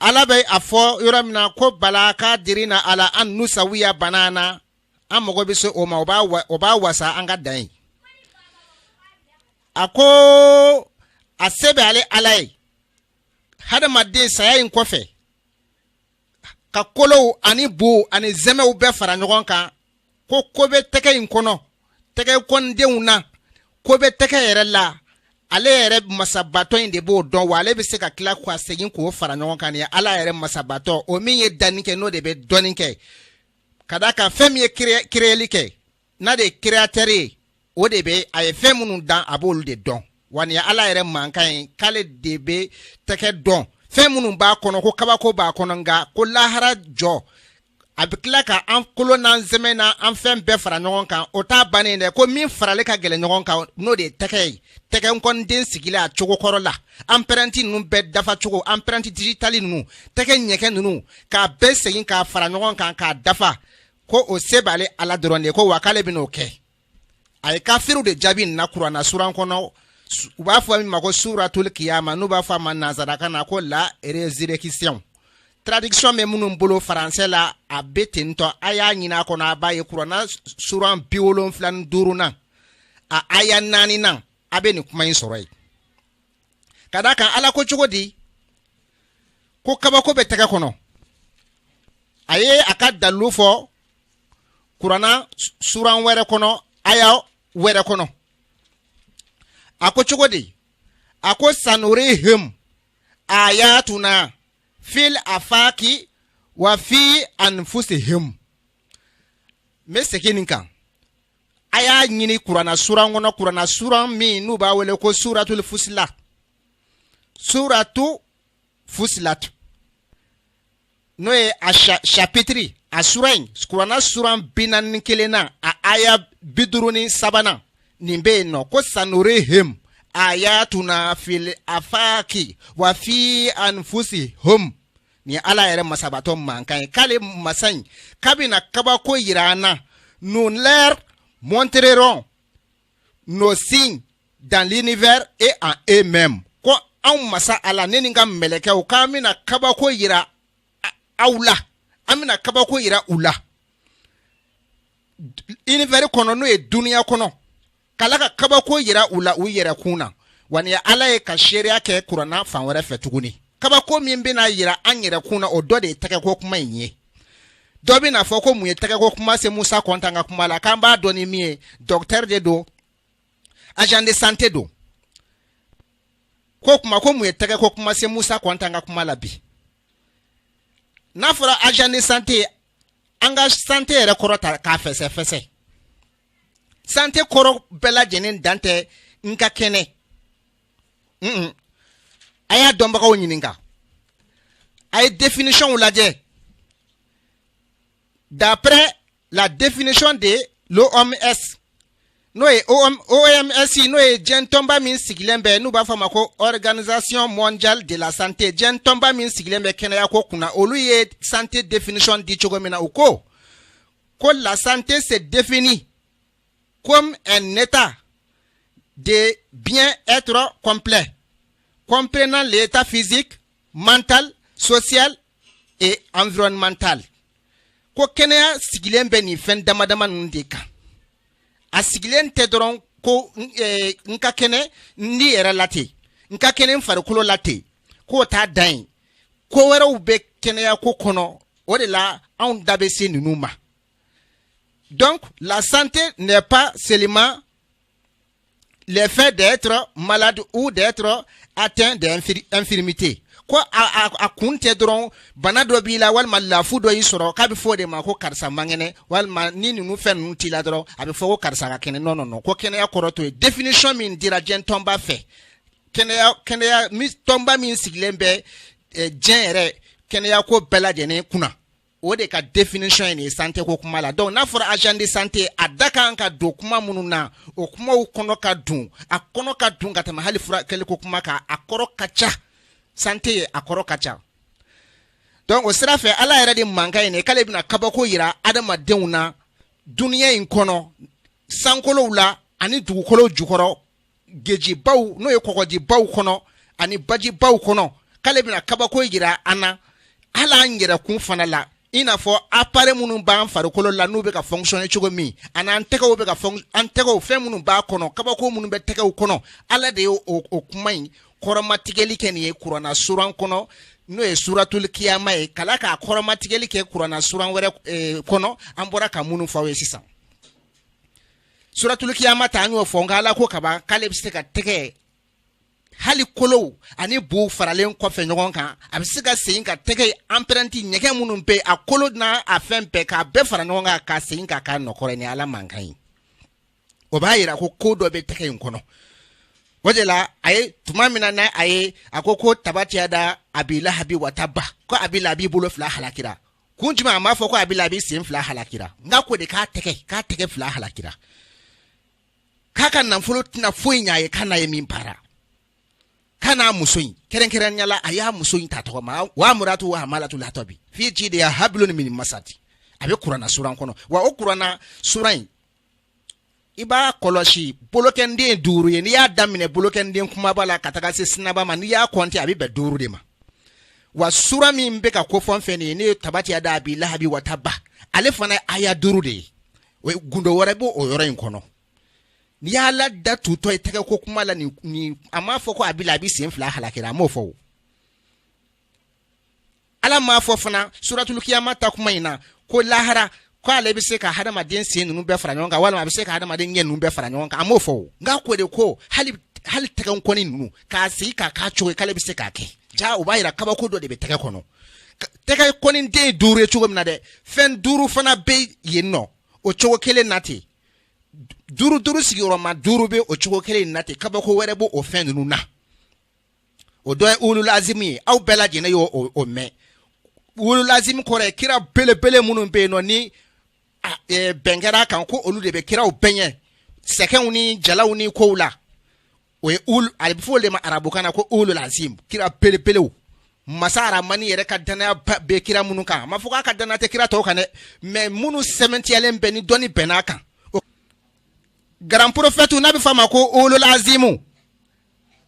ala bɛ a fɔ yɔrɔ min na ko bala kadirina ala an nusawiya banana an mago bɛ se o ma o b'a wasa an ka dan ye a ko a se bɛ ale ala ye hadamaden saya in kɔfɛ ka kolow ani bu ani zɛmɛw bɛɛ fara ɲɔgɔn kan ko ko bɛ tɛgɛ in kɔnɔ tɛgɛ kɔndenw na ko bɛ tɛgɛ yɛrɛ la ale yɛrɛ masabatɔ in de b'o dɔn wa ale bɛ se ka tila k'a segin k'o fara ɲɔgɔn kan nin ye ala yɛrɛ masabatɔ o min ye danni kɛ n'o de bɛ dɔnni kɛ ka d'a kan fɛn min ye créeli kɛ n'a de ye créateur ye o de bɛ a ye fɛn minnu dan a b'olu de dɔn wa nin ye ala yɛrɛ mankan ye k'ale de bɛ tɛgɛ dɔn fɛn minnu b'a kɔnɔ ko kabako b'a kɔnɔ nka ko lahara jɔ a bɛ tila ka an kolo n'an sɛmɛ na an fɛn bɛɛ fara ɲɔgɔn kan o t'a bannen dɛ ko min farali ka gɛlɛn ɲɔgɔn kan n'o de ye tɛgɛ ye tɛgɛ nkɔniden sigilen a cogo kɔrɔ la empreinte ninnu bɛɛ dafa cogo empreinte digitale ninnu tɛgɛ ɲɛgɛn ninnu k'a bɛɛ segin k'a fara ɲɔgɔn kan k'a dafa ko o se b'ale ala dɔrɔn de ye ko wa k'ale bɛn'o kɛ a ye kafiriw de jaabi nin na kuranna suran kɔnɔ u b'a fɔ min ma ko suratul kiyama n'u b'a fɔ a ma nanzarakan na ko la résurrection traduction bɛ minnu bolo faransɛ la a bɛ ten tɔ a y'a ɲini a kɔnɔ a b'a ye kuranna suran bi wolonfila ni duurunan a aya naaninan a bɛ nin kuma in sɔrɔ yen ka d'a kan ala ko cogo di ko kabako bɛ tɛgɛ kɔnɔ a ye a ka dalilu fɔ kurana suran wɛrɛ kɔnɔ aya wɛrɛ kɔnɔ a ko cogo di a ko sanurihim ayatuna fil afaki wa fi anfusihim n bɛ segin nin kan a y'a ɲini kurana suran kɔnɔ kurana suran min n'u b'a wele ko suratul fusila suratu fusilatu n'o ye a chapitiri a suran in kurana suran bi naani kelennan a aya bi duuru ni sabanan nin bɛ yen nɔ ko sanurihim ayatuna fil afaki wa fi anfusihum nin ye ala yɛrɛ masabatɔ mankan ye k'ale masa in k'a bɛna kabako yira an na nous leur montrerons nos signes dans l'univers et en eux-mêmes ko anw masa ala ne ni n ka mɛlɛkɛw k'an bɛna kabako yira aw la an bɛna kabako yira u la univers kɔnɔ n'o ye duniya kɔnɔ k'ala ka kabako yira u la u yɛrɛ kun na wa ni ala ye ka seereya kɛ kurana fan wɛrɛ fɛ tuguni kabako min bɛna yira an yɛrɛ kun na o dɔ de ye tɛgɛko kuma in ye dɔ bɛna fɔ ko mun ye tɛgɛko kuma se musa kɔnta ka kuma la k'an b'a dɔn ni min ye dɔkitɛri de don agent de santé don ko kuma ko mun ye tɛgɛko kuma se musa kɔnta ka kuma la bi n'a fɔra agent de santé an ka santé yɛrɛ kɔrɔ ta k'a fɛsɛfɛsɛ santé kɔrɔ bɛɛ lajɛlen dan tɛ n ka kɛnɛ a y'a dɔnbagaw ɲininka a ye définitionw lajɛ d'après la définition de l'OMS n'o ye OMS n'o ye diɲɛ tɔnba min sigilen bɛ n'u b'a fɔ a ma ko organisation mondiale de la santé diɲɛ tɔnba min sigilen bɛ kɛnɛyako kunna olu ye santé définition di cogo min na u ko ko la santé se définit comme un état de bien-être complet, comprenant l'état physique, mental, social et environnemental. Ko kɛnɛya sigilen bɛ nin fɛn dama dama ninnu de kan a sigilen tɛ dɔrɔn ko eh, n ka kɛnɛ n ni yɛrɛ la ten n ka kɛnɛ n farikolo la ten k'o t'a dan ye ko wɛrɛw bɛ kɛnɛya ko kɔnɔ o de la anw da bɛ se ninnu ma donc la santé n'est pas seulement le fait d'être malade ou d'être atteint d'infirmité ko a, a, a kun tɛ dɔrɔn bana dɔ b'i la walima lafu dɔ y'i sɔrɔ k'a bɛ fɔ o de ma ko karisa man kɛnɛ walima ni ninnu fɛn ninnu t'i la dɔrɔn a bɛ fɔ ko karisa ka kɛnɛ non non non ko kɛnɛya kɔrɔ t'o ye définition min dira diɲɛ tɔnba fɛ kɛnɛya kɛnɛya tɔnba min sigilen bɛ eh, diɲɛ yɛrɛ kɛnɛya ko bɛɛ lajɛlen kunna o de ka définition ye nin santé ko kuma la donc n'a fɔra agent de santé a da kan ka don kuma minnu na o kumaw kɔnɔ ka dun a kɔnɔ ka dun ka tɛmɛ hali furakɛli ko kuma kan a kɔrɔ ka ca santé ye a kɔrɔ ka ca donc o sira fɛ ala yɛrɛ de mankan ye nin k'ale bɛna kabako yira adamadenw na duniya in kɔnɔ sankolow la ani dugukolo jukɔrɔ gejibaw n'o ye kɔgɔjibaw kɔnɔ ani bajibaw kɔnɔ k'ale bɛna kabako yira an na hali an yɛrɛkun fana la i n'a fɔ appareil minnu b'an farikolo la n'u bɛ ka fonctionner cogo min ani an tɛgɛw bɛ ka an tɛgɛw fɛn minnu b'a kɔnɔ kabako minnu bɛ tɛgɛw kɔnɔ ala de ye o kuma in kɔrɔmatigɛli kɛ nin ye kurana suran kɔnɔ n'o ye suratul kiyama ye k'ala k'a kɔrɔmatigɛli kɛ kurana suran wɛrɛ eh, kɔnɔ an bɔra ka minnu fɔ aw ye sisan suratulikiyama ta an y'o fɔ nka ala ko kaban k'ale bɛ se ka tɛgɛ hali kolow ani buw faralen kɔfɛ ɲɔgɔn kan a bɛ se ka segin ka tɛgɛ anpɛrɛnti ɲɛgɛn minnu bɛ a kolo n'a a fɛn bɛɛ k'a bɛɛ fara ɲɔgɔn kan ka segin ka k'a nɔkɔrɔ ni ala mankan ye o b'a yira ko ko dɔ bɛ tɛgɛ in kɔnɔ o de la a ye tuma min na n'a a ye a ko ko tabati yada abilahabi wataba ko abilahabi bolo fila halakira kun jumɛn a m'a fɔ ko abilahabi sen fila halakira nk'a ko de k'a tɛgɛ k'a tɛgɛ fila halakira k'a ka nafolo tɛna foyi ɲɛ a ye k'a n'a ye min baara k'a n'a muso in kɛrɛnkɛrɛnnenya la a y'a muso in ta tɔgɔ ma wa muratu wa hamalatu latabi fi jideya habilon mini masati a bɛ kurana sura kɔnɔ wa o kurana sura in i b'a kɔlɔsi bolokɛnden duuru ye n'i y'a daminɛ bolokɛnden kumaba la ka taga se sinaba ma n'i y'a kɔnte a bɛ bɛn duuru de ma wa sura min bɛ ka kofɔ fɛn nin ye n'o ye tabati yada abilahabi wataba ale fana aya duuru de ye o ye gundo wɛrɛ b'o o yɔrɔ in kɔnɔ n'i y'a la da tutɔ ye tɛgɛ ko kuma la a m'a fɔ ko abilahabi sen fila halakira a m'o fɔ ala m'a fɔ fana suratulukiyama ta kuma in na ko lahara ko ale bɛ se ka hadamaden sen ninnu bɛɛ fara ɲɔgɔn kan walima a bɛ se ka hadamaden ɲɛ ninnu bɛɛ fara ɲɔgɔn kan a m'o fɔ o nk'a ko de ko hali hali tɛgɛ kɔni ninnu k'a sigi k'a k'a cogo ye k'ale bɛ se k'a kɛ ja o b'a yira kabako dɔ de bɛ tɛgɛ kɔnɔ tɛgɛ kɔni den ye duuru ye cogo min na dɛ fɛn duuru fana bɛ yen nɔ o cogo kelen na ten duuru duuru sigiyɔrɔma duuru bɛ o cogo kelen na ten kabako wɛrɛ b'o o fɛn ninnu na o dɔ ye wululazimu ye aw bɛɛ lajɛlen y'o o mɛn wululazimu kɔrɔ ye kira belebele minnu bɛ yen nɔ ni e, bɛn kɛra kan ko olu de bɛ kiraw bɛɛ ɲɛ sɛgɛnw ni jalaw ni kow la o ye wulu a bɛ fɔ o de ma arabukan na ko wululazimu kira belebelew masa aramani yɛrɛ ka dannaya bɛ kira minnu kan a ma fɔ k'a ka dannaya tɛ kira tɔw kan dɛ mɛ minnu sɛmɛntiyalen bɛ ni dɔnni bɛnn'a kan garan porofɛtu n'a bɛ f'a ma ko wululazimu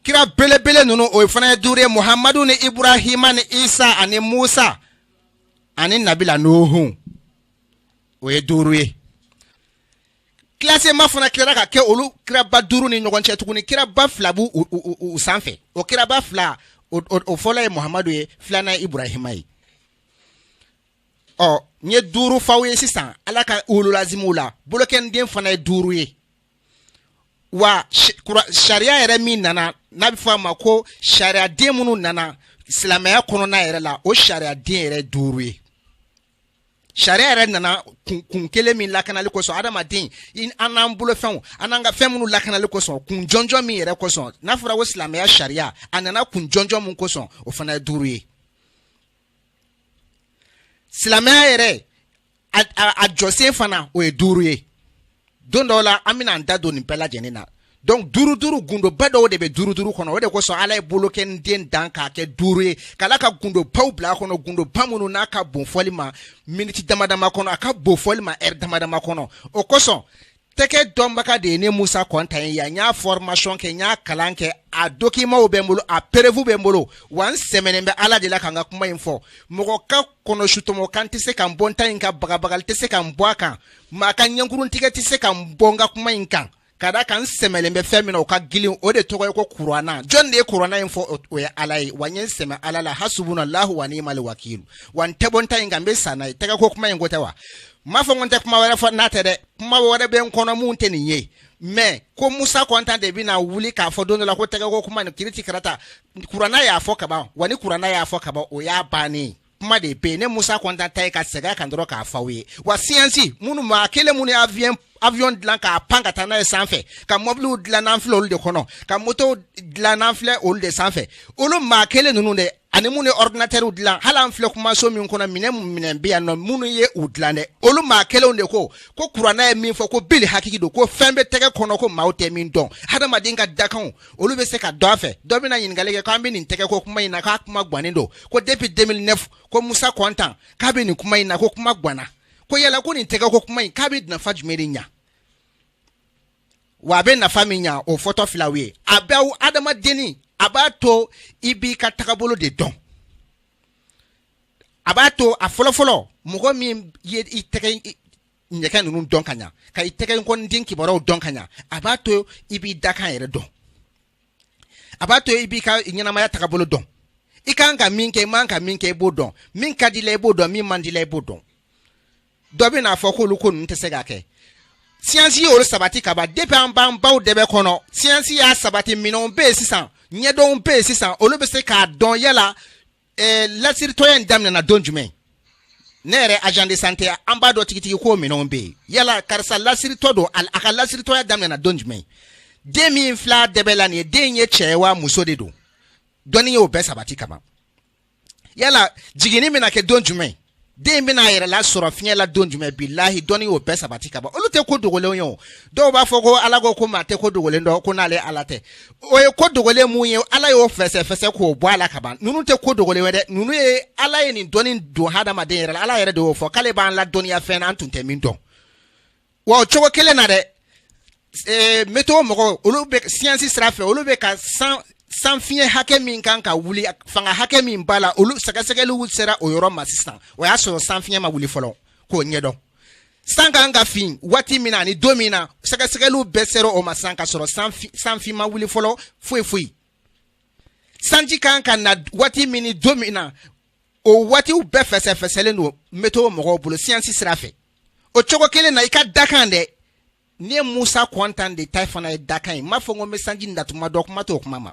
kira belebele ninnu o fana ye duuru ye muhamadu ni iburahima ni isa ani musa ani nabila nuhun o ye duuru ye kilasema fana tilara ka kɛ olu kiraba duuru ni ɲɔgɔn cɛ tuguni kiraba fila b'u u sanfɛ o kiraba fila o fɔlɔ ye muhamadu ye filanan ye iburahima ye ɔ n ye duuru f'aw ye sisan ala ka wululazimuw la bolokɛnden fana ye duuru ye wa sariya yɛrɛ min nana n'a bɛ fɔ a ma ko sariya den minnu nana silamɛya kɔnɔna yɛrɛ la o sariya den yɛrɛ duuru ye sariya yɛrɛ nana kun kun kelen min lakanali kosɔn adamaden an n'an bolo fɛnw an n'an ka fɛn minnu lakanali kosɔn kun jɔnjɔn min yɛrɛ kosɔn n'a fɔra ko silamɛya sariya a nana kun jɔnjɔn min kosɔn o fana ye duuru ye silamɛya yɛrɛ a jɔsen fana o ye duuru ye don dɔw la an bɛna an da don nin bɛɛ lajɛlen na donc duuru duuru gundoba dɔw de bɛ duuru duuru kɔnɔ o de kosɔn ala ye bolokɔniden dan k'a kɛ duuru ye k'ala ka gundobaw bila a kɔnɔ gundoba minnu n'a ka bon fɔli ma miniti dama dama kɔnɔ a ka bon fɔli ma ɛri dama dama kɔnɔ o kosɔn tɛgɛ dɔnbaga de ye ne musa kɔntan ye yan n y'a fɔrmasiyɔn kɛ n y'a kalan kɛ a dokimaw bɛ n bolo a perefu bɛ n bolo wa n sɛmɛnen bɛ ala de la ka n ka kuma in fɔ mɔgɔ ka kɔnɔsutɔmɔkan tɛ se ka n bɔ n ta in kan bagabagali tɛ se ka n bɔ a kan maa ka ɲɛnkuruntigɛ tɛ se ka n bɔ n ka kuma in kan ka da a kan n sɛmɛlen bɛ fɛn min na o ka gilin o de tɔgɔ ye ko kurana jɔn de ye kurana in fɔ o ye ala ye wa n ye n sɛmɛ ala la hasubuna lahu wa ni'mal wakilu wa n tɛ bɔ n ta in kan n bɛ sa n'a ye tɛgɛko kuma in ko tɛ wa n m'a fɔ n ko n tɛ kuma wɛrɛ fɔ n'a tɛ dɛ kuma wɛrɛ bɛ n kɔnɔ min tɛ nin ye mɛ ko musa kɔntan de bɛna wuli k'a fɔ don dɔ la ko tɛgɛko kuma ni kiriti karata kuranna y'a fɔ kaban wa ni kuranna y'a fɔ kaban o y'a bannen kuma de bɛ yen ne musa kɔntan ta ye ka segin a kan dɔrɔn k'a fɔ aw ye wa siyansi minnu maa kelen minnu ye avion avion dilan k'a pan ka taa n'a ye sanfɛ ka mɔbiliw dilan n'an filɛ olu de kɔnɔ ka motow dilan n'an filɛ olu de sanfɛ olu maa kelen ninnu de ani minnu ye ordinatɛriw dilan hali an filɛ kumaso min kɔnɔ minɛ minɛn bɛ yan nɔ minnu ye u dilan dɛ olu maa kelenw de ko ko kuranna ye min fɔ ko bili hakiki don ko fɛn bɛ tɛgɛ kɔnɔ ko maaw tɛ min dɔn hadamaden ka dakanw olu bɛ se ka dɔn a fɛ dɔ bɛna ɲininkali kɛ k'an bɛ nin tɛgɛ ko kuma in na k'a kuma gannen don ko depuis 2009 ko musa kɔntan k'a bɛ nin kuma in na ko kuma ganna ko yala ko nin tɛgɛ ko kuma in k'a bɛ nafa jumɛn de ɲa wa a bɛ nafa min ɲa o fɔtɔ filɛ aw ye a bɛ hadamadenni a b'a to i b'i ka tagabolo de dɔn a b'a to a fɔlɔfɔlɔ mɔgɔ min ye i tɛgɛ ɲɛgɛn ninnu dɔn ka ɲa ka i tɛgɛ nkɔniden kibaruyaw dɔn ka ɲa a b'a to i b'i dakan yɛrɛ dɔn a b'a to i b'i ka ɲɛnamaya tagabolo dɔn i kan ka min kɛ i man ka min kɛ i b'o dɔn min ka di i la i b'o dɔn min man di i la i b'o dɔn dɔ bɛn'a fɔ k'olu ko ninnu tɛ se ka kɛ siyansi ye olu sabati ka ban depi an b'an baw dɛbɛ kɔnɔ siyansi y'a sabati minɛnw bɛ yen sisan ɲɛdɔnw bɛ yen sisan olu bɛ se k'a dɔn yala eh, lasiritɔya in daminɛna don jumɛn ne yɛrɛ agent de santé an b'a dɔn tigitigi ko minɛnw bɛ yen yala karisa lasiritɔ don a ka lasiritɔya daminɛna don jumɛn den min filɛ a dɛbɛ la nin ye den ye cɛ ye wa muso de don dɔnni y'o bɛɛ sabati ka ban yala jiginni bɛna kɛ don jumɛn den bɛna a yɛrɛ lasɔrɔ fiɲɛ la don jumɛn bilahi dɔnni y'o bɛɛ sabati ka ban olu tɛ ko dogolenw ye o dɔw b'a fɔ ko ala ko ko maa tɛ ko dogolen dɔn ko n'ale ala tɛ o ye ko dogolen mun ye ala y'o fɛsɛfɛsɛ k'o bɔ a la ka ban ninnu tɛ ko dogolen ye dɛ ninnu ye ala ye nin dɔnni don hadamaden yɛrɛ la ala yɛrɛ de y'o fɔ k'ale b'an ladɔnniya fɛn na an tun tɛ min dɔn Wa o cogo kelen na dɛ meto mɔgɔw olu bɛ siyansi sira fɛ olu bɛ ka san san fiɲɛ hakɛ min kan ka wuli fanga hakɛ min b'a la olu sɛgɛsɛgɛli sera o yɔrɔ ma sisan o y'a sɔrɔ san fiɲɛ ma wuli fɔlɔ k'o ɲɛdɔn san ka kan ka fin waati min na ani don min na sɛgɛsɛgɛliw bɛɛ sera o ma san ka sɔrɔ sanfin ma wuli fɔlɔ foyi foyi sanji kan ka na waati min don min na o waatiw bɛɛ fɛsɛfɛsɛlen don meto mɔgɔw bolo siyansi sira fɛ o cogo kelen na i ka dakan dɛ ne ye musa kɔntan de ta fana ye dakan ye n m'a fɔ ko n bɛ sanji natuma dɔn kuma t'o kuma ma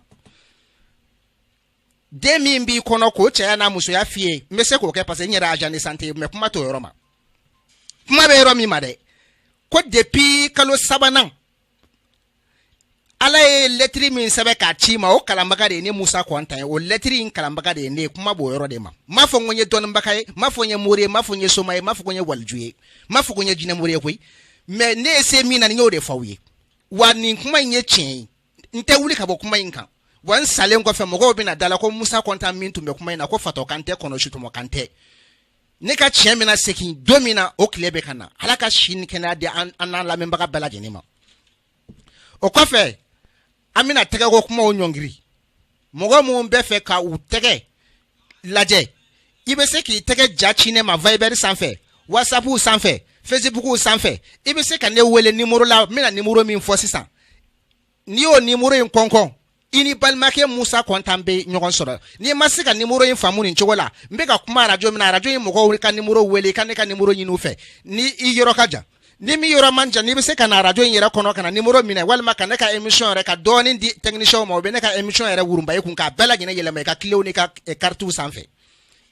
den min b'i kɔnɔ k'o cɛya n'a musoya f'i ye n bɛ se k'o kɛ parce que n yɛrɛ agent de santé ye mais kuma t'o yɔrɔ ma kuma bɛ yɔrɔ min ma dɛ ko depuis kalo sabanan ala ye lɛtiri min sɛbɛn k'a ci i ma o kalanbaga de ye ne musa kɔntan ye o lɛtiri in kalanbaga de ye ne ye kuma b'o yɔrɔ de ma m'a fɔ ko n ye dɔnnibaga ye m'a fɔ n ye mori ye m'a fɔ n ye soma ye m'a fɔ ko n ye waliju ye m'a fɔ ko n ye jinɛmori ye koyi mais ne ye se min na n y'o de fɔ aw ye wa nin kuma in ye tiɲɛ ye n tɛ wuli ka bɔ kuma in kan wa n salen kɔfɛ mɔgɔw bɛna da la ko musa kɔntan min tun bɛ kuma in na ko fatɔ kan tɛ kɔnɔ sutɔmɔ kan tɛ ne ka tiɲɛ bɛna segin don min na o tile bɛ ka na ala ka si ni kɛnɛya di an n'an lamɛnbaga bɛɛ lajɛlen ma o kɔfɛ an bɛna tɛgɛko kumaw ɲɔngiri mɔgɔ minnu bɛ fɛ ka u tɛgɛ lajɛ i bɛ se k'i tɛgɛ ja ci ne ma viber sanfɛ whatsapp sanfɛ facebook sanfɛ i bɛ se ka ne wele nimoro la n bɛna nimoro min fɔ sisan n'i y'o nimoro in kɔnkɔn i ni balimakɛ musa kɔntan bɛ ɲɔgɔn sɔrɔ n'i ma se ka nimoro in faamu nin cogo la n bɛ ka kuma arajo min na arajo in mɔgɔw ka nimoro wele i ka ne ka nimoro ɲini u fɛ ni i yɔrɔ ka jan ni min yɔrɔ man jan n'i bɛ se ka na arajo in yɛrɛ kɔnɔ ka na nimoro minɛ walima ka ne ka émission yɛrɛ ka dɔɔnin di technicien ma o bɛ ne ka émission yɛrɛ wurunba i kun k'a bɛɛ lajɛlen yɛlɛma i ka kilew n'i ka karitiw eh, sanfɛ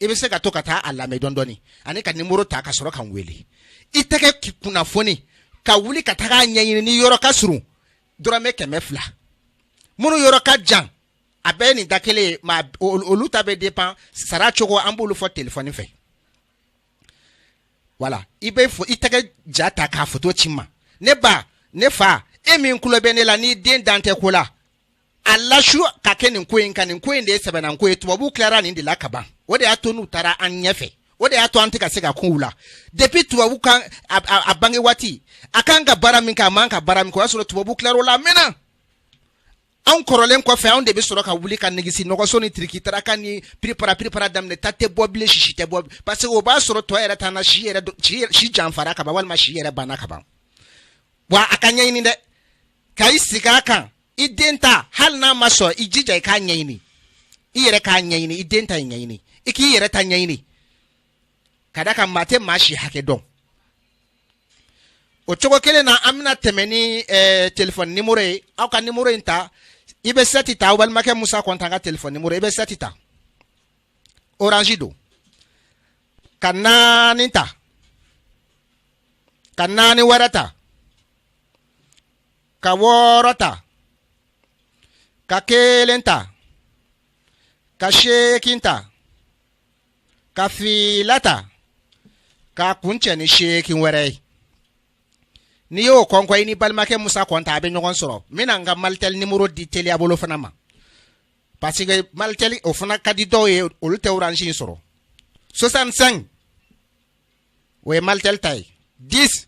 i bɛ se ka to ka taa a lamɛn dɔɔnin dɔɔnin ani ka nimoro ta ka sɔrɔ ka n wele i tɛgɛ kunnafoni ka wuli ka taga a ɲɛɲini n'i yɔrɔ ka surun dɔrɔmɛ kɛmɛ fila minnu yɔrɔ ka jan a bɛɛ nin da kelen ye mais olu ta bɛ dépend sara cogo an b'olu fɔ telefɔni fɛ wala i bɛ i tɛgɛ ja ta k'a foto ci n ma ne ba ne fa e min kulo bɛ ne la n'i den dan tɛ ko la a lasu ka kɛ nin ko in kan nin ko in de ye sɛbɛnnan ko ye tubabuw tilara nin de la ka ban o de y'a to n'u taara an ɲɛfɛ o de y'a to an tɛ ka se ka kun u la depuis tubabu kan a, a, a bange waati a kan ka baara min kɛ a man kan ka baara min kɛ o y'a sɔrɔ tubabu tilar'o la a mɛnna anw kɔrɔlen kɔfɛ anw de bɛ sɔrɔ ka wuli ka negisi nɔgɔso ni tirikitaraka ni piripara piripara daminɛ ta tɛ bɔ bilen sisi tɛ bɔ parce que o b'a sɔrɔ tɔ yɛrɛ t'an na si yɛrɛ si janfara ka ban walima si yɛrɛ banna ka ban wa a ka ɲɛɲini dɛ ka i sigi a kan i den ta hali n'a ma sɔn i jija i k'a ɲɛɲini i yɛrɛ k'a ɲɛɲini i den ta ye ɲɛɲini i k'i yɛrɛ ta ɲɛɲini ka da a kan maa tɛ maa si hakɛ dɔn o cogo kelen na an bɛna tɛmɛ ni eh, telefɔni nimoro ye aw ka nimoro in ta i bɛ sɛti ta aw balimakɛ musa kɔnta ka telefɔni nimoro i bɛ sɛti ta orange don ka naani ta ka naani wɛrɛ ta ka wɔɔrɔ ta ka kelen ta ka seegin ta ka fila ta k'a kuncɛ ni seegin wɛrɛ ye n'i y'o kɔnkɔ i ni balimakɛ musa kɔnta a bɛ ɲɔgɔn sɔrɔ n bɛna n ka malitɛli nimoro di teliya bolo fana ma parce que malitɛli o fana ka di dɔw ye olu tɛ orange in sɔrɔ 65 o ye malitɛli ta ye 10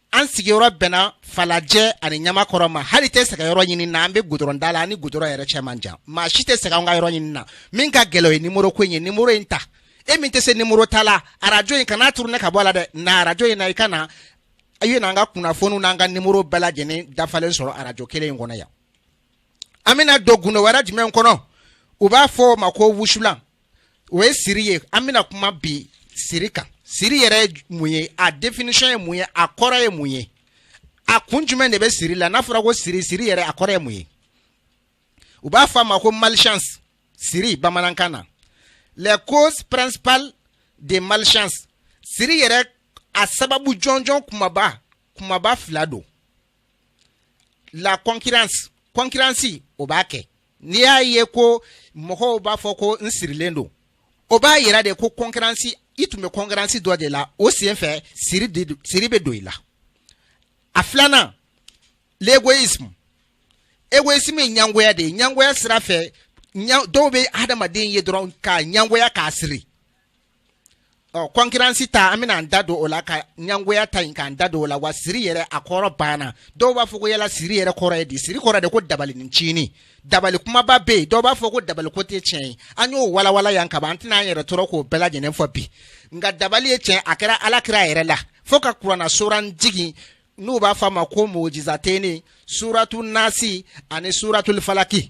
an sigiyɔrɔ bɛnna falajɛ ani ɲamakɔrɔ ma hali i tɛ sɛgɛn yɔrɔ ɲini na an bɛ gudɔrɔnda la an ni gudɔrɔn yɛrɛ cɛ man jan maa si tɛ sɛgɛn an ka yɔrɔ ɲini na min ka gɛlɛn o ye nimoro ko in ye nimoro in ta e min tɛ se nimoro ta la arajo in kana turune ka bɔ a la dɛ na arajo in na i ka na i ye n'an ka kunnafoniw n'an ka nimoro bɛɛ lajɛlen dafalen sɔrɔ arajo kelen in kɔnɔ yan an bɛna don gundo wɛrɛ jumɛn kɔnɔ u b'a fɔ o ma ko wusulan o ye siri ye an bɛna kuma bi siri kan siri yɛrɛ ye mun ye a définition ye mun ye a kɔrɔ ye mun ye a kun jumɛn de bɛ siri la n'a fɔra ko siri siri yɛrɛ a kɔrɔ ye mun ye u b'a fɔ a ma ko malchance siri bamanankan na les causes principales de malchance siri yɛrɛ a sababu jɔnjɔn kumaba kumaba fila don la concurrence concurrence o b'a kɛ n'i y'a ye ko mɔgɔw b'a fɔ ko n sirilen don o b'a yira de ko kɔnkransi i tun bɛ kɔnkransi dɔ de la o sen fɛ siri bɛ don i la a filanan l'égoïsme égoïsme ye ɲangoya de ye ɲangoya sira fɛ dɔw bɛ hadamaden ye dɔrɔn k'a ɲangoya k'a siri ɔ kɔnkiransi ta an bɛna an da don o la ka ɲangoya ta in k'an da don o la wa siri yɛrɛ a kɔrɔ banna dɔw b'a fɔ ko yala siri yɛrɛ kɔrɔ ye di siri kɔrɔ de ko dabali ni tiɲɛni dabali kumaba bɛ yen dɔw b'a fɔ ko dabali ko tɛ tiɲɛ ye an y'o walawala yan kaban an tɛna an yɛrɛ tɔɔrɔ k'o bɛɛ lajɛlen fɔ bi nka dabali ye tiɲɛ a kɛra ala kira yɛrɛ la fo ka kuranɛ suran jigin n'u b'a fɔ a ma ko muawizateni suratu nasi ani suratul falaki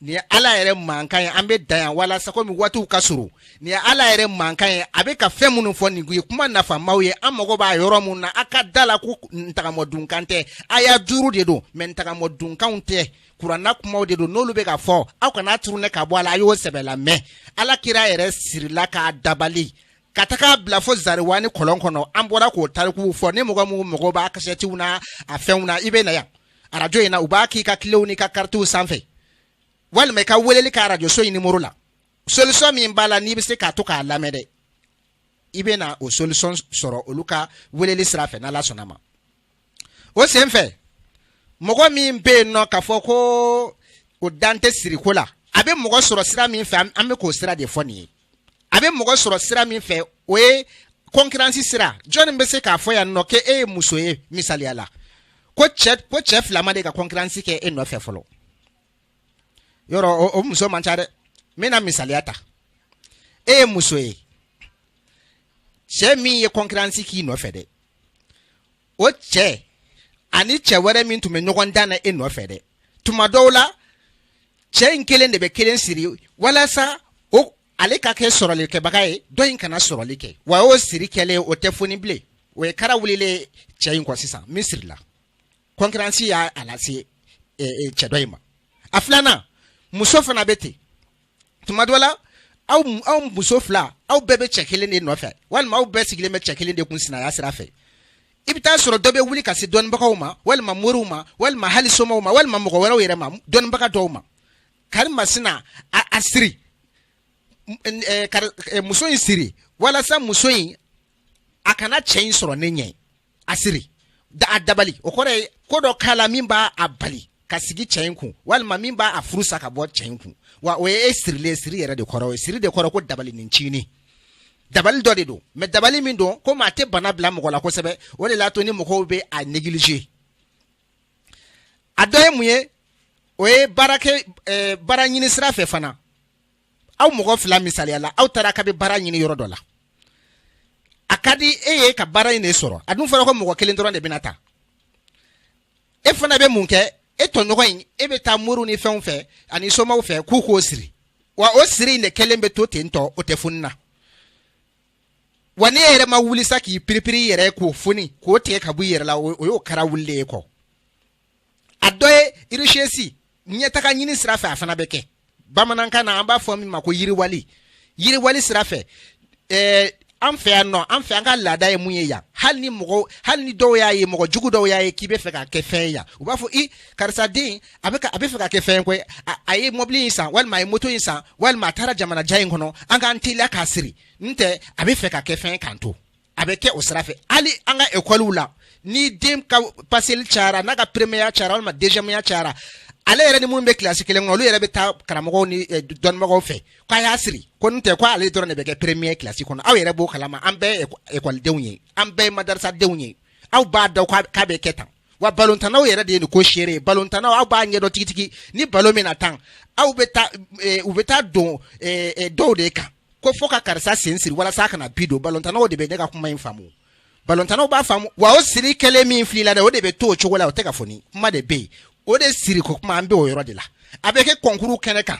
nin ye ala yɛrɛ mankan ye an bɛ dan yan walasa komi waatiw ka surun nin ye ala yɛrɛ mankan ye a bɛ ka fɛn minnu fɔ nin ye kuma nafamaw ye an mago b'a yɔrɔ minnu na a ka da a la ko ntagamɔdunkan tɛ aya duuru de don mɛ ntagamɔdunkanw tɛ kuranɛ kumaw de don n'olu bɛ ka fɔ aw kana turune ka bɔ a la a y'o sɛbɛ lamɛn ala kira yɛrɛ sirila k'a dabali ka taga a bila fo zariwani kɔlɔn kɔnɔ an bɔra k'o tarikuw fɔ ni mɔgɔ minnu mago b'a kasɛtiw na a fɛnw na i bɛ na yan arajo in na u b'a k'i ka kilew n'i ka karitiw sanfɛ walima i ka weleli kɛ arajoso in nimoro la solisɔn min b'a la n'i bɛ se k'a to k'a lamɛn dɛ i bɛ na o solisɔn sɔrɔ olu ka weleli sira fɛ n'ala sɔnna ma o sen fɛ mɔgɔ min bɛ yen nɔ k'a fɔ ko o dan tɛ siriko la a bɛ mɔgɔ sɔrɔ sira min fɛ an bɛ k'o sira de fɔ nin ye a bɛ mɔgɔ sɔrɔ sira min fɛ o ye kɔnkiransi sira jɔnni bɛ se k'a fɔ yan nɔ ko e ye muso ye misaliya la ko cɛ fila ma de ka kɔnkiransi kɛ e nɔfɛ fɔlɔ yɔrɔ o muso man ca dɛ n bɛna misaliya ta e ye muso ye cɛ min ye kɔnkiransi k'i nɔfɛ dɛ o cɛ ani cɛ wɛrɛ min tun bɛ ɲɔgɔn dan na e nɔfɛ dɛ tuma dɔw la cɛ in kelen de bɛ kelen siri walasa o ale ka kɛ sɔrɔlikɛbaga ye dɔ in kana sɔrɔli kɛ wa o siri kɛlen o tɛ foni bilen o ye kara wulilen ye cɛ in kɔ sisan min sirila kɔnkiransi y'a lase cɛ dɔ in ma a filanan muso fana bɛ ten tuma dɔ la aw muso fila aw bɛɛ bɛ cɛ kelen de nɔfɛ walima aw bɛɛ sigilen bɛ cɛ kelen de kun sinaya sira fɛ i bɛ taa sɔrɔ dɔ bɛ wuli ka se dɔnnibagaw ma walima moriw ma walima hali somaw ma walima mɔgɔ wɛrɛw yɛrɛ ma dɔnnibaga dɔw ma kari masina a siri muso in siri walasa muso in a kana cɛ in sɔrɔ ne ɲɛ a siri a dabali o kɔrɔ ye ko dɔ k'a la min b'a a bali ka sigi cɛ in kun walima min b'a a furu sa ka bɔ cɛ in kun wa o ye e sirilen siri yɛrɛ de kɔrɔ o ye siri de kɔrɔ ko dabali nin tiɲɛni dabali dɔ de don mɛ dabali min don komi a tɛ bana bila mɔgɔ la kosɛbɛ o de la to ni mɔgɔw bɛ a neglige a dɔ ye mun ye o ye baara ɲini sira fɛ fana aw mɔgɔ fila misaliya la aw taara ka bɛ baara ɲini yɔrɔ dɔ la a ka di e ye ka baara in de sɔrɔ a dun fɔra ko mɔgɔ kelen dɔrɔn de bɛna ta e fana bɛ mun kɛ e tɔɲɔgɔn in e bɛ taa moriw ni fɛnw fɛ ani somaw fɛ k'u k'o siri wa o siri in de kɛlen bɛ to ten tɔ o tɛ foni na wa n'e yɛrɛ ma wuli sa k'i piripiri i yɛrɛ k'o foni k'o tigɛ ka bɔ i yɛrɛ la o y'o kara wulilen y'e kɔ a dɔ ye irisiesi ɲɛtaga ɲini sira fɛ a fana bɛ kɛ bamanankan na an b'a fɔ min ma ko yiriwali yiriwali sira fɛ ɛɛ an fɛ yan nɔ an fɛ an ka laada ye mun ye yan hali ni mɔgɔ hali ni dɔw y'a ye mɔgɔ jugu dɔw y'a ye k'i bɛ fɛ ka kɛ fɛn ye yan u b'a fɔ i karisa den a bɛ a bɛ fɛ ka kɛ fɛn koyi a ye mɔbili in san walima a ye moto in san walima a taara jamana jan in kɔnɔ an k'an teliya k'a siri n'o tɛ a bɛ fɛ ka kɛ fɛn k'an to a bɛ kɛ o sira fɛ hali an ka ekɔliw la ni den ka paseli cayara n'a ka peremiyeya cayara walima deziyɛmuya cayara ale yɛrɛ ni minnu bɛ kilasi kelen kɔnɔ olu yɛrɛ bɛ taa karamɔgɔw ni eh, dɔnnibagaw fɛ k'a y'a siri ko n'o tɛ ko ale dɔrɔn de bɛ kɛ peremiye kilasi kɔnɔ aw yɛrɛ b'o kalama an bɛɛ ye ekɔlidenw ye an bɛɛ ye madarisadenw ye aw b'a dɔn k'a bɛ kɛ tan wa balontannaw yɛrɛ de ye ko seere ye balontannaw aw b'a ɲɛdɔn tigitigi ni balon bɛna tan aw bɛ taa eh, u bɛ taa don eh, eh, dɔw de kan ko fo ka karisa sen siri walasa kana bi don balontannaw de bɛ ne ka kuma in faamu balontannaw b'a faamu wa o siri kɛlen min filila dɛ o de bɛ to o cogo la o tɛ ka foni kuma de bɛ yen o de siriko kuma an bɛ o yɔrɔ de la a bɛ kɛ kɔnkuru kɛnɛ kan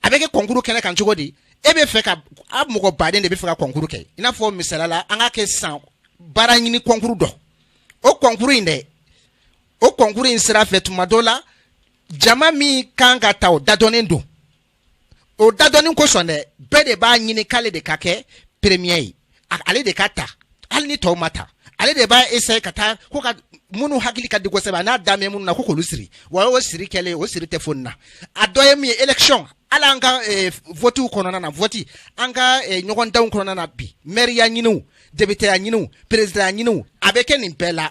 a bɛ kɛ kɔnkuru kɛnɛ kan cogo di e bɛ fɛ ka a mɔgɔ baden de bɛ fɛ ka kɔnkuru kɛ i n'a fɔ misaliya la an ka kɛ san baara ɲini kɔnkuru dɔ o kɔnkuru in dɛ o kɔnkuru in sira fɛ tuma dɔ la jama min kan ka ta o dadɔnnen don o dadɔnnen kosɔn dɛ bɛɛ de b'a ɲini k'ale de ka kɛ peremiye ye ale de ka ta hali ni tɔw ma ta ale de b'a ese ka taa ko ka minnu hakili ka di kosɛbɛ n'a dalen bɛ minnu na ko k'olu siri wa o siri kɛlen o siri tɛ foni na a dɔ ye min ye élection hali an ka eh, votiw kɔnɔna na voti an ka eh, ɲɔgɔndanw kɔnɔna na bi mɛriya ɲiniw depiteya ɲiniw perezidanya ɲiniw a bɛ kɛ nin bɛɛ la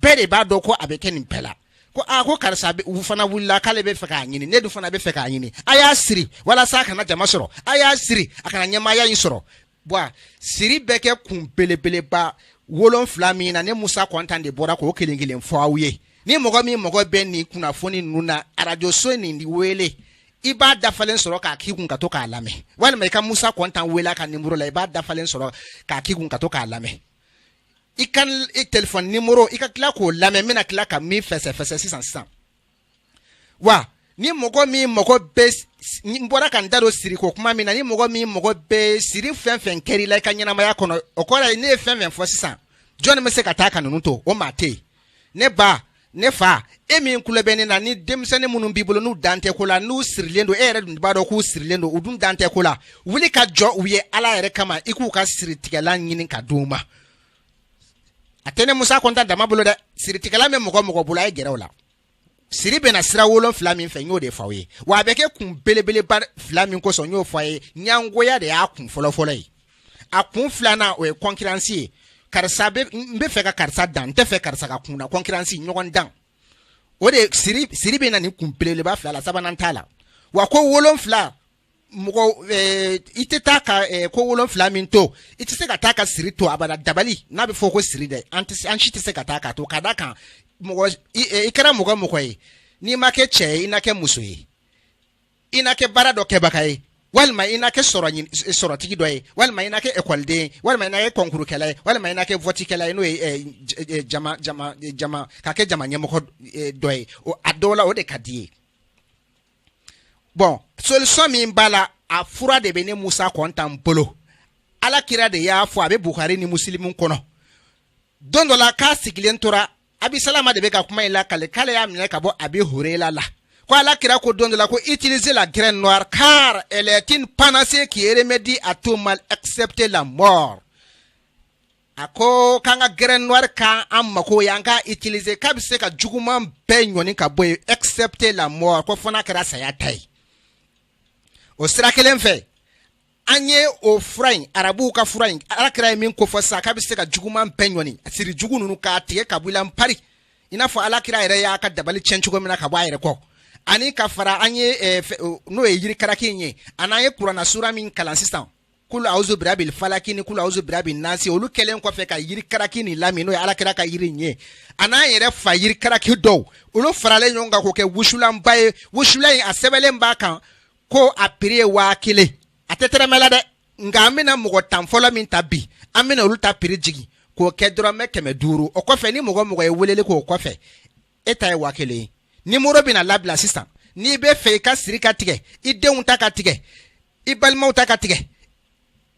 bɛɛ de b'a dɔn ko a bɛ kɛ nin bɛɛ la ko aa ko karisa u fana wulila k'ale bɛ fɛ k'a ɲini ne dun fana bɛ fɛ k'a ɲini a y'a siri walasa a kana jama sɔrɔ a y'a siri a kana ɲɛmaaya in sɔrɔ bɔn siri bɛ kɛ kun belebeleba wolonfila min na ne musa kɔntan de bɔra k'o kelen kelen fɔ aw ye ni mɔgɔ min mago bɛ nin kunnafoni ninnu na arajoso nin wele i b'a dafalen sɔrɔ k'a k'i kun ka to k'a lamɛn walima i ka musa kɔntan wele a ka nimɔrɔ la i b'a dafalen sɔrɔ k'a k'i kun ka to k'a lamɛn i ka telefɔni nimɔrɔ i ka tila k'o lamɛn n bɛna tila ka min fɛsɛfɛsɛ sisan sisan wa ni mɔgɔ min mago bɛ n bɔra ka n da don siriko kuma min na ni mɔgɔ min mago bɛ siri fɛn fɛn kɛra i la i ka ɲɛnamaya kɔnɔ o kɔrɔ ye ne ye fɛn fɛn fɔ sisan jɔnni bɛ se ka taa ka ninnu to o maa tɛ yen ne ba ne fa e min tulo bɛ ne na ni denmisɛnnin minnu b'i bolo n'u dalen tɛ ko la n'u sirilen don e yɛrɛ dun b'a dɔn k'u sirilen don u dun dalen tɛ ko la wuli ka jɔ u ye ala yɛrɛ kama i k'u ka siritigɛlan ɲini ka di u ma a tɛ ne musa kɔntan dama bolo dɛ siritigɛlan bɛ mɔgɔ o mɔgɔ bolo a ye gɛrɛ u la siri bɛ na sira wolonfila min fɛ n y'o de fɔ aw ye wa a bɛ kɛ kun belebeleba fila min kosɔn n y'o fɔ a ye ɲangoya de y'a kun fɔlɔfɔlɔ ye a kun filanan o ye kɔnkiransi ye karisa n bɛ fɛ ka karisa dan n tɛ fɛ karisa ka kun na kɔnkiransi ɲɔgɔndan o de siri bɛ na nin kun belebeleba fila la sabanan t'a la wa ko wolonfila mɔgɔ eh, i tɛ taa ka eh, ko wolonfila min to i tɛ se ka taa ka siri to abada dabali n'a bɛ fɔ ko siri dɛ an tɛ se- an si tɛ se ka taa k'a to ka d'a kan mɔgɔ i eh, i kɛra mɔgɔ mɔgɔ ye n'i ma kɛ cɛ ye i na kɛ muso ye i na kɛ baara dɔ kɛbaga ye walima i na kɛ sɔrɔ ɲin- s- sɔrɔtigi dɔ ye walima i na kɛ ekɔliden ye walima i na kɛ kɔnkurukɛla ye walima i na kɛ vɔtikɛla ye n'o ye eh, j- eh, jama jama eh, jama ka kɛ jama ɲɛmɔgɔ eh, dɔ ye o a dɔw la o de ka d'i ye bon solution min b'a la a fura de bɛ ne musa kɔntan bolo ala kira de y'a fɔ a bɛ buhari ni musilimu kɔnɔ don dɔ la k'a sigilen tora abisalama de bɛ ka kuma in lakale k'ale y'a minɛ ka bɔ abi hurayra la ko ala kira ko don dɔ la ko utilisez la graine noire car elle est une panacée qui remédie à tout mal excepté la mort a ko k'an ka graine noire kɛ an mako ye an k'a utiliser k'a bɛ se ka juguman bɛɛ ɲɔni ka bɔ yen excepté la mort ko fo n'a kɛra saya ta ye o sira kelen fɛ an ye o fura in arabuw ka fura in ala kira ye min kofɔ sisan k'a bɛ se ka juguman bɛɛ ɲɔni siri jugu ninnu k'a tigɛ ka bɔ i la npari i n'a fɔ ala kira yɛrɛ y'a ka dabali tiɲɛ cogo min na ka bɔ a yɛrɛ kɔ ani ka fara an ye n'o ye yiri karaki in ye a n'an ye kurana sura min kalan sisan kulu awuzu birabil falaki ni kulu awuzu birabil nasi olu kɛlen kɔfɛ ka yiri karaki nin lamini n'o ye ala kira ka yiri in ye a n'an yɛrɛ fa yiri karaki dɔw olu faralen ɲɔgɔn kan k'o kɛ wusulanba ye wusulan in a sɛbɛnlen b'a kan ko a piri ye waa kelen a tɛ tɛrɛmɛ la dɛ nka an bɛna mɔgɔ tan fɔlɔ min ta bi an bɛna olu ta piri jigin k'o kɛ dɔrɔmɛ kɛmɛ duuru o kɔfɛ ni mɔgɔ o mɔgɔ ye weleli k'o kɔfɛ e ta ye waa kelen ye numéro bɛna labila sisan n'i b'a fɛ i ka siri ka tigɛ i denw ta ka tigɛ i balimaw ta ka tigɛ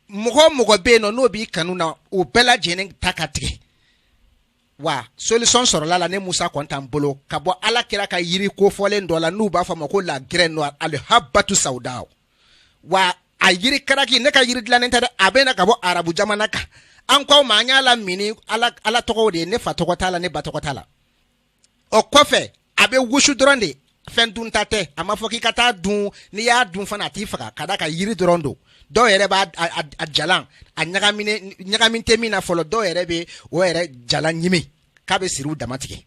mɔgɔ o mɔgɔ bɛ yen nɔ n'o b'i kanu na o bɛɛ lajɛlen ta ka tigɛ wa solution sɔrɔla ne musa kɔntan bolo ka bɔ ala kira ka yiri kofɔlen dɔ la n'u b'a fɔ a ma ko la graine noire alihabatu sawuda wa a yiri karaki ne ka yiri dilannen tɛ dɛ a bɛ na ka bɔ arabu jamana kan an k'aw ma an y'a lamini ala tɔgɔw de ye ne fa tɔgɔ t'a la ne ba tɔgɔ t'a la o kɔfɛ a bɛ wusu dɔrɔn de fɛn dunta tɛ a ma fɔ k'i ka t'a dun n'i y'a dun fana a t'i faga ka d'a kan yiri dɔrɔn don dɔw yɛrɛ b'a a jalan a ɲagaminen tɛ min na fɔlɔ dɔw yɛrɛ bɛ o yɛrɛ jalan ɲimi k'a bɛ siriw dama tigɛ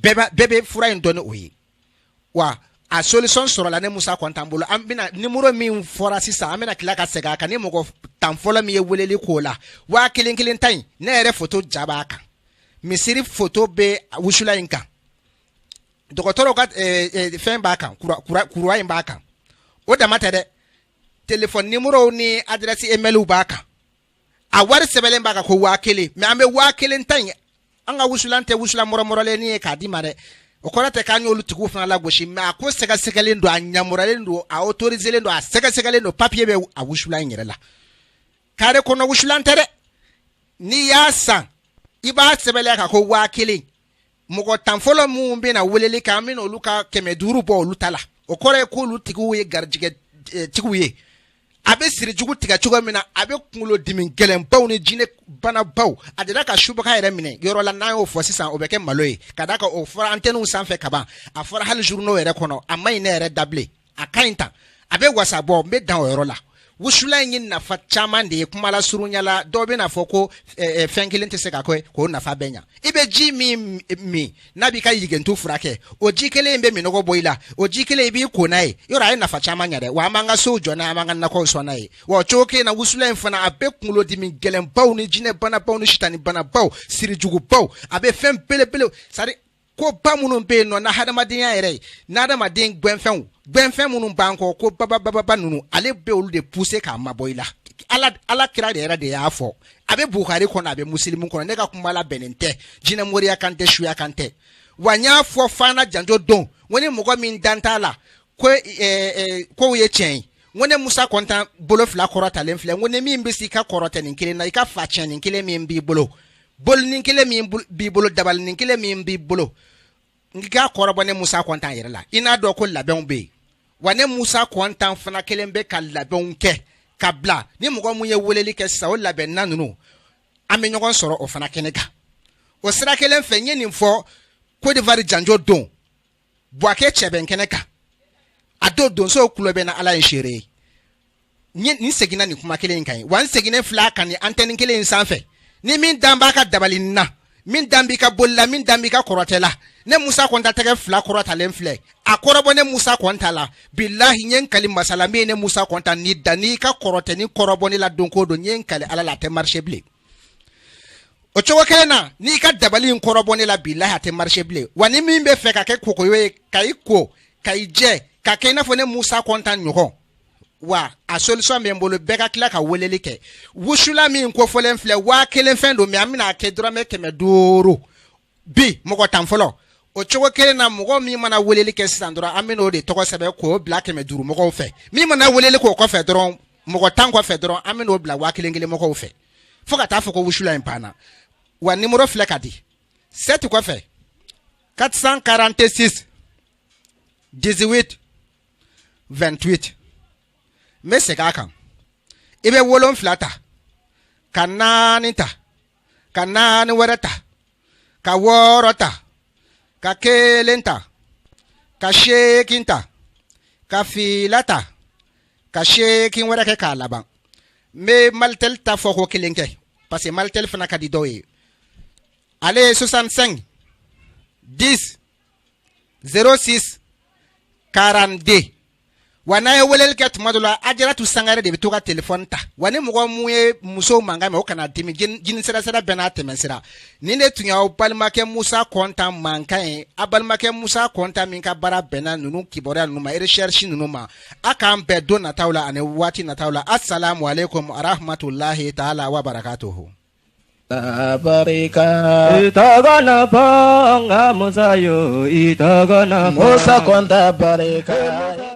bɛɛ bɛ fura in dɔn ni o ye wa a solution sɔrɔla ne Musa Kɔntan bolo an bɛna numéro min fɔra sisan an bɛna tila ka segin a kan ni mɔgɔ tan fɔlɔ min ye weleli k'o la waa kelen kelen ta in ne yɛrɛ foto ja b'a kan misiri foto bɛ wusulan in kan dɔgɔtɔrɔw ka eh, eh, fɛn b'a kan croix in b'a kan o dama tɛ dɛ telefɔni numéro ni adresse email b'a kan a wari sɛbɛnlen b'a kan ko waa kelen mais an bɛ waa kelen ta in an ka wusulan tɛ wusulan mɔrɔmɔrɔlennin ye k'a d'i ma dɛ o kɔrɔ tɛ k'an y'olu tigiw fana lagosi mais a ko sɛgɛsɛgɛlen don a yamarulen don a autoriselen don a sɛgɛsɛgɛlen don papiye bɛ a wusulan yɛrɛ la kare kɔnɔ wusulan tɛ dɛ n'i y'a san i b'a sɛbɛnlen y'a kan ko waa kelen mɔgɔ tan fɔlɔ minnu bɛna weleli kɛ an bɛna olu ka kɛmɛ duuru bɔ olu ta la o kɔrɔ ye k'olu tigiw ye garijɛgɛ tigiw ye a bɛ sirijugu tigɛ cogo min na a bɛ kunkolodimi gɛlɛnbaw ni jinɛ banabaw a dela ka subaga yɛrɛ minɛ yɔrɔ la n'an y'o fɔ sisan o bɛ kɛ malo ye ka d'a kan o fɔra antɛniw sanfɛ kaban a fɔra hali journaux yɛrɛ kɔnɔ a man ɲi ne yɛrɛ da bilen a ka ɲi ta a bɛ wasa bɔ n bɛ dan o yɔrɔ la wusula in ye nafa caman de ye kumalasurunya la dɔw bɛn'a fɔ ko eh, eh, fɛn kelen tɛ se ka kɛ k'o nafa bɛɛ ɲa i bɛ ji min min n'a b'i ka yigentu furakɛ o ji kelen in bɛ minɔgɔ bɔ i la o ji kelen i b'i ko n'a ye yɔrɔ a ye nafa caman ɲa dɛ wa an b'an ka sow jɔ n'a ye an b'an ka nakɔw sɔn n'a ye wa cogo kelen na wusula in fana a bɛ kunkolodimi gɛlɛnbaw ni jinɛbanabaw ni sitanibanabaw sirijugubaw a bɛ fɛn belebele sari ko ba minnu bɛ yen nɔ na hadamadenya yɛrɛ ye na hadamaden gɛnfɛnw gɛnfɛn minnu b'an kɔ ko babababa ninnu ale bɛ olu de pousser k'a mabɔ i la ala ala kira de yɛrɛ de y'a fɔ a bɛ bukari kɔnɔ a bɛ musilimu kɔnɔ ne ka kuma labɛnnen tɛ jinɛ moriya kan tɛ suya kan tɛ wa n y'a fɔ fana janjo don ko ni mɔgɔ min dan t'a la ko eh, eh, kow ye tiɲɛ ye n ko ne musa kɔnta bolo fila kɔrɔtalen filɛ n ko ni min bɛ se i ka kɔrɔtɛnin kelen na i ka fatiɲɛnin kelen min b'i bolo bolinin kelen min b'i bolo dabalinin kelen min b'i bolo n k'a kɔrɔbɔ ne musa kɔnta yɛrɛ la i n'a dɔn ko labɛnw bɛ yen wa ne musa kɔnta fana kelen bɛ ka labɛnw kɛ ka bila ni mɔgɔ min ye weleli kɛ sa o labɛnna ninnu an bɛ ɲɔgɔn sɔrɔ o fana kɛnɛ kan o sira kelen fɛ n ye nin fɔ kɔdiwari janjo don buwake cɛbɛn kɛnɛ kan a don donso kulu bɛ na ala ye seere ye n ye- n seginna nin kuma kelen in kan yen wa n seginnen fil'a kan nin antɛni kelen in sanfɛ ni min dan b'a ka dabali na min dan b'i ka boli la min dan b'i ka kɔrɔtɛ la ne musa kɔnta tɛgɛ fila kɔrɔtalen filɛ a kɔrɔbɔ ne musa kɔnta la bilahi n ye n kali masa la min ye ne musa kɔnta ni dan n'i ka kɔrɔtɛnin kɔrɔbɔ ne la don go don n ye n kali ala la a tɛ marcher bilen o cogo kelen na n'i ka dabali in kɔrɔbɔ ne la bilahi a tɛ marcher bilen wa ni min bɛ fɛ ka kɛ kokoyo ye ka i ko ka i jɛ ka kɛ i n'a fɔ ne musa kɔnta ɲɔgɔn wa a solution bɛ n bolo bɛɛ ka tila ka weleli kɛ wusula min kofɔlen filɛ waa kelen fɛn don mɛ an bɛna a kɛ dɔrɔmɛ kɛmɛ duuru bi mɔgɔ tan fɔlɔ o cogo kelen na mɔgɔ min mana weleli kɛ sisan dɔrɔn an bɛn'o de tɔgɔ sɛbɛn k'o bila kɛmɛ duuru mɔgɔw fɛ min mana weleli k'o kɔfɛ dɔrɔn mɔgɔ tan kɔfɛ dɔrɔn an bɛn'o bila waa kelen kelen mɔgɔw fɛ fo ka taa fɔ ko wusula in banna wa nimoro filɛ ka di sɛti kɔfɛ 446 18 28 n bɛ segin a kan i bɛ wolonfila ta ka naani ta ka naani wɛrɛ ta ka wɔɔrɔ ta ka kelen ta ka seegin ta ka fila ta ka seegin wɛrɛ kɛ k'a laban n bɛ malitɛli ta fɔ ko kelen kɛ parce que malitɛli fana ka di dɔw ye ale ye 65 10 06 42 wa n'a ye weleli kɛ tuma dɔ la ajaratu sangare de bɛ to ka telefɔni ta wa ni mɔgɔ mun ye muso mankan mɛn o kana dimi jini sirasira bɛɛ n'a tɛmɛsira nin de tun y'aw balimakɛ musa kɔnta mankan ye a balimakɛ musa kɔnta min ka baara bɛnna ninnu kibaruya ninnu ma recherche ninnu ma a k'an bɛn don nataw la ani waati nataw la asalamu aleykum arahamatulahi taala wa barakatuhu barika i tɔgɔ na fɔ n ka musa yo i tɔgɔ na fɔ musa kɔnta barika